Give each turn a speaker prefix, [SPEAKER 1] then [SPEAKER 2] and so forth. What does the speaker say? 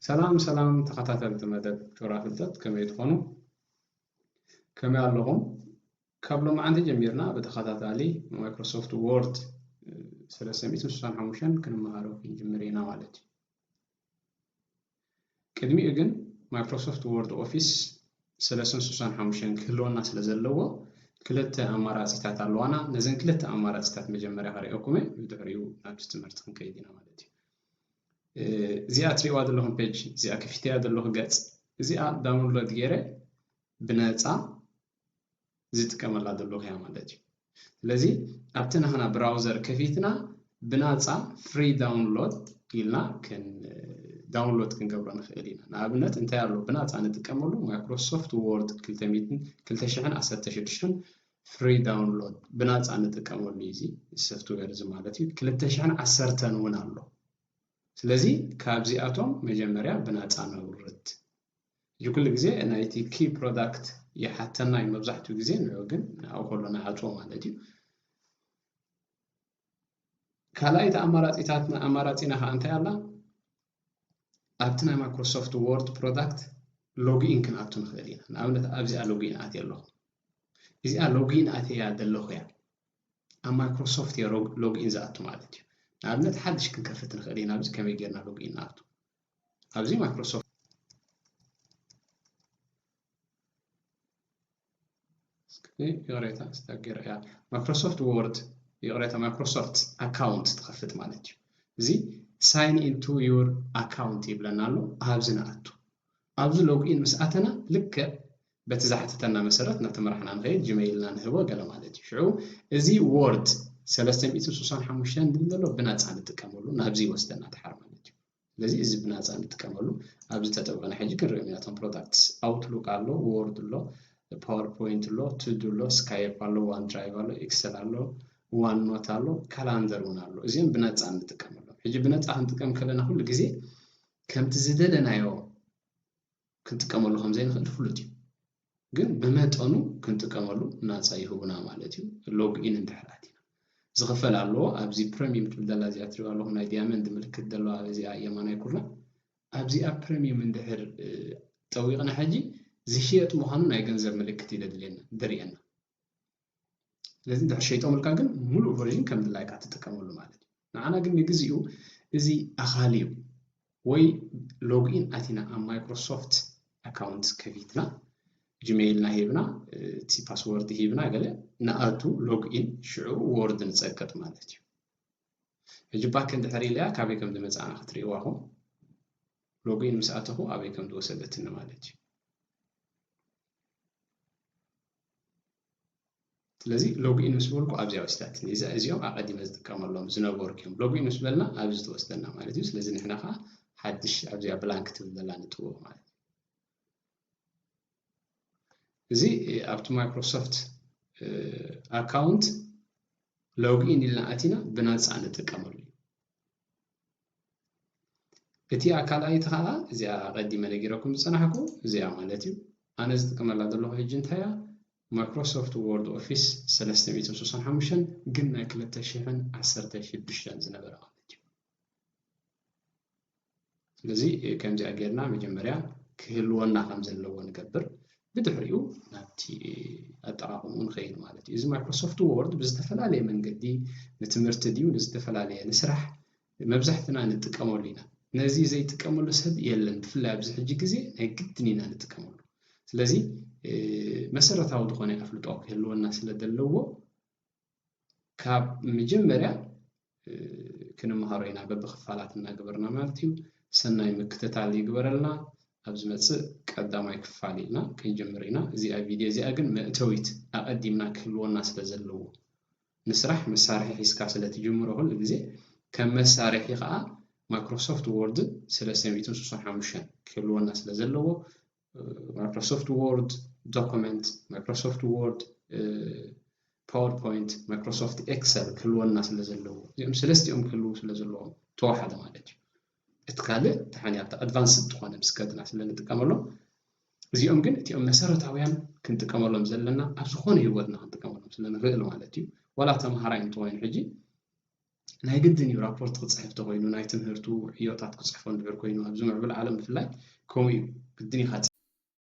[SPEAKER 1] ሰላም ሰላም ተኸታተልቲ መደብ ጩራ ፍልጠት ከመይ ትኾኑ? ከመይ ኣለኹም? ካብ ሎማዓንቲ ጀሚርና ብተኸታታሊ ማይክሮሶፍት ዎርድ ሰለስተ ሚእትን ስሳን ሓሙሽተን ክንመሃሮ ክንጅምር ኢና ማለት እዩ። ቅድሚኡ ግን ማይክሮሶፍት ወርድ ኦፊስ ሰለስተ ስሳን ሓሙሽተን ክህልወና ስለ ዘለዎ ክልተ ኣማራፂታት ኣለዋና ነዘን ክልተ ኣማራፂታት መጀመርያ ክሪኦኩመ ብድሕሪኡ ናብዚ ትምህርቲ ክንከይድ ኢና ማለት እዩ እዚኣ ትሪእዋ ዘለኹም ፔጅ እዚኣ ክፊተያ ዘለኹ ገፅ እዚኣ ዳውንሎድ ገይረ ብነፃ ዝጥቀመላ ዘለኹ እያ ማለት እዩ። ስለዚ ኣብቲ ናህና ብራውዘር ከፊትና ብናጻ ፍሪ ዳውንሎድ ኢልና ዳውንሎድ ክንገብሮ ንኽእል ኢና። ንኣብነት እንታይ ኣሎ ብናጻ ንጥቀመሉ ማይክሮሶፍት ዎርድ 2016 ፍሪ ዳውንሎድ ብናጻ ንጥቀመሉ እዩ እዚ ሶፍትዌር እዚ ማለት እዩ። 2010 እውን ኣሎ። ስለዚ ካብዚኣቶም መጀመርያ ብናጻ ነውርድ። ሕጂ ኩሉ ግዜ ናይቲ key product ይሓተና እዩ መብዛሕትኡ ግዜ ንዑ ግን ንኣኡ ከሎ ንዓጽዎ ማለት እዩ ካልኣይቲ ኣማራጺታትና ኣማራጺና ከዓ እንታይ ኣላ ኣብቲ ናይ ማይክሮሶፍት ወርድ ፕሮዳክት ሎግኢን ክንኣቱ ንኽእል ኢና ንኣብነት ኣብዚኣ ሎግኢን ኣትየ ኣለኹ እዚኣ ሎግኢን ኣትያ ዘለኹ እያ ኣብ ማይክሮሶፍት እየ ሎግኢን ዝኣቱ ማለት እዩ ንኣብነት ሓድሽ ክንከፍት ንኽእል ኢና ኣብዚ ከመይ ጌርና ሎግኢን ንኣቱ ኣብዚ ማይክሮሶፍት ይቕሬታ ስታክ ገይረ እያ ማይክሮሶፍት ወርድ ይቕሬታ ማይክሮሶፍት ኣካውንት ትኸፍት ማለት እዩ እዚ ሳይን ኢንቱ ዩር ኣካውንት ይብለና ኣሎ ኣብዚ ንኣቱ ኣብዚ ሎግኢን ምስ ኣተና ልክዕ በቲ ዝሓተተና መሰረት ናብቲ መራሕና ንኸይድ ጂመይልና ንህቦ ገለ ማለት እዩ ሽዑ እዚ ወርድ 365 ዝብል ዘሎ ብናፃ ንጥቀመሉ ናብዚ ይወስደና ድሓር ማለት እዩ ስለዚ እዚ ብናጻ ንጥቀመሉ ኣብዚ ጠጠው በና ሕጂ ክንሪኦም ኢና እቶም ፕሮዳክትስ ኣውትሉክ ኣሎ ዎርድ ኣሎ ፓወርፖይንት ኣሎ ቱዱ ኣሎ ስካይፕ ኣሎ ዋን ድራይቭ ኣሎ ኤክሰል ኣሎ ዋን ኖት ኣሎ ካላንደር እውን ኣሎ እዚኦም ብነፃ እንጥቀመሎም ሕጂ ብነፃ ክንጥቀም ከለና ኩሉ ግዜ ከምቲ ዝደለናዮ ክንጥቀመሉ ከም ዘይንኽእል ፍሉጥ እዩ። ግን ብመጠኑ ክንጥቀመሉ ናጻ ይህቡና ማለት እዩ። ሎግ ኢን እንድሕር ኣቲና። ዝኽፈል ኣለዎ። ኣብዚ ፕረሚየም ትብል ዘላ እዚኣ ትሪእዋ ኣለኹም ናይ ዲያመንድ ምልክት ዘለዋ እዚኣ የማናይ ኩርናዕ። ኣብዚኣ ፕረሚየም እንድሕር ጠዊቕና ሕጂ ዝሽየጥ ምዃኑ ናይ ገንዘብ ምልክት እዩ ዘድልየና ዘርእየና። ስለዚ ድሕር ሸይጦምልካ ግን ሙሉእ ቨርዥን ከም ድላይካ ትጥቀመሉ ማለት እዩ ንዓና ግን ንግዚኡ እዚ ኣኻሊ እዩ ወይ ሎግኢን ኣቲና ኣብ ማይክሮሶፍት ኣካውንት ከፊትና ጂሜይልና ሂብና እቲ ፓስወርድ ሂብና ገለ ንኣቱ ሎግኢን ሽዑ ወርድ ንፀቅጥ ማለት እዩ ሕጂ ባክ እንድሕር ኢለያ ካበይ ከም ዝመፅኣና ክትርእይዋ ኹም ሎግኢን ምስ ኣተኹ ኣበይ ከም ዝወሰደትኒ ማለት እዩ ስለዚ ሎግኢን ምስ በልኩ ኣብዚኣ ወሲዳትኒ እዛ እዚኦም ኣቐዲመ ዝጥቀመሎም ዝነበርኩ እዮም ሎግኢን ምስ በልና ኣብዚ ተወስደና ማለት እዩ ስለዚ ንሕና ከዓ ሓድሽ ኣብዚኣ ብላንክ ትብል ዘላ ንጥውቕ ማለት እዩ እዚ ኣብቲ ማይክሮሶፍት ኣካውንት ሎግኢን ኢልና ኣቲና ብናፃ ንጥቀመሉ እዩ እቲኣ ካልኣይቲ ከኣ እዚኣ ኣቀዲመ ነጊረኩም ዝጸናሕኩ እዚኣ ማለት እዩ ኣነ ዝጥቀመላ ዘለኹ ሕጂ እንታይ እያ ማይክሮሶፍት ዎርድ ኦፊስ ሰለስተ ሚእትን ስሳን ሓሙሽተን ግን ናይ ክልተ ሽሕን ዓሰርተ ሽዱሽተን ዝነበረ ማለት እዩ ስለዚ ከምዚኣ ጌርና መጀመርያ ክህልወና ከም ዘለዎ ንገብር ብድሕሪኡ ናብቲ ኣጠቃቅምኡ ንኸይድ ማለት እዩ እዚ ማይክሮሶፍት ዎርድ ብዝተፈላለየ መንገዲ ንትምህርቲ ድዩ ንዝተፈላለየ ንስራሕ መብዛሕትና ንጥቀመሉ ኢና ነዚ ዘይጥቀመሉ ሰብ የለን ብፍላይ ኣብዚ ሕጂ ግዜ ናይ ግድን ኢና ንጥቀመሉ ስለዚ መሰረታዊ ዝኾነ ኣፍልጦ ክህልወና ስለ ዘለዎ ካብ መጀመርያ ክንመሃሮ ኢና በብክፋላት እናገበርና ማለት እዩ ሰናይ ምክትታል ይግበረልና ኣብ ዝመፅእ ቀዳማይ ክፋል ኢልና ክንጅምር ኢና እዚኣ ቪድዮ እዚኣ ግን መእተዊት ኣቐዲምና ክህልወና ስለ ዘለዎ ንስራሕ መሳርሒ ሒዝካ ስለ ትጅምሮ ኩሉ ግዜ ከም መሳርሒ ከኣ ማክሮሶፍት ዎርድን ስለ ሰብዒትን ስሱን ሓሙሽተን ክህልወና ስለ ዘለዎ ማይክሮሶፍት ዎርድ ዶኩመንት፣ ማይክሮሶፍት ዎርድ ፓወርፖይንት፣ ማይክሮሶፍት ኤክሰል ክህልወና ስለ ዘለዎ እዚኦም ሰለስቲኦም ክህልዉ ስለ ዘለዎም ተዋሓደ ማለት እዩ። እቲ ካልእ ተሓንያ ኣብቲ ኣድቫንስድ ዝኾነ ምስ ከድና ስለ ንጥቀመሎም እዚኦም ግን እቲኦም መሰረታውያን ክንጥቀመሎም ዘለና ኣብ ዝኾነ ህይወትና ክንጥቀመሎም ስለ ንኽእል ማለት እዩ ዋላ ተምሃራይ እንተኮይኑ ሕጂ ናይ ግድን እዩ ራፖርት ክፅሕፍ ተኮይኑ ናይ ትምህርቱ ዕዮታት ክፅሕፎ እንድሕር ኮይኑ ኣብዚ ምዕብል ዓለም ብፍላይ ከምኡ እዩ ግድን ኢኻ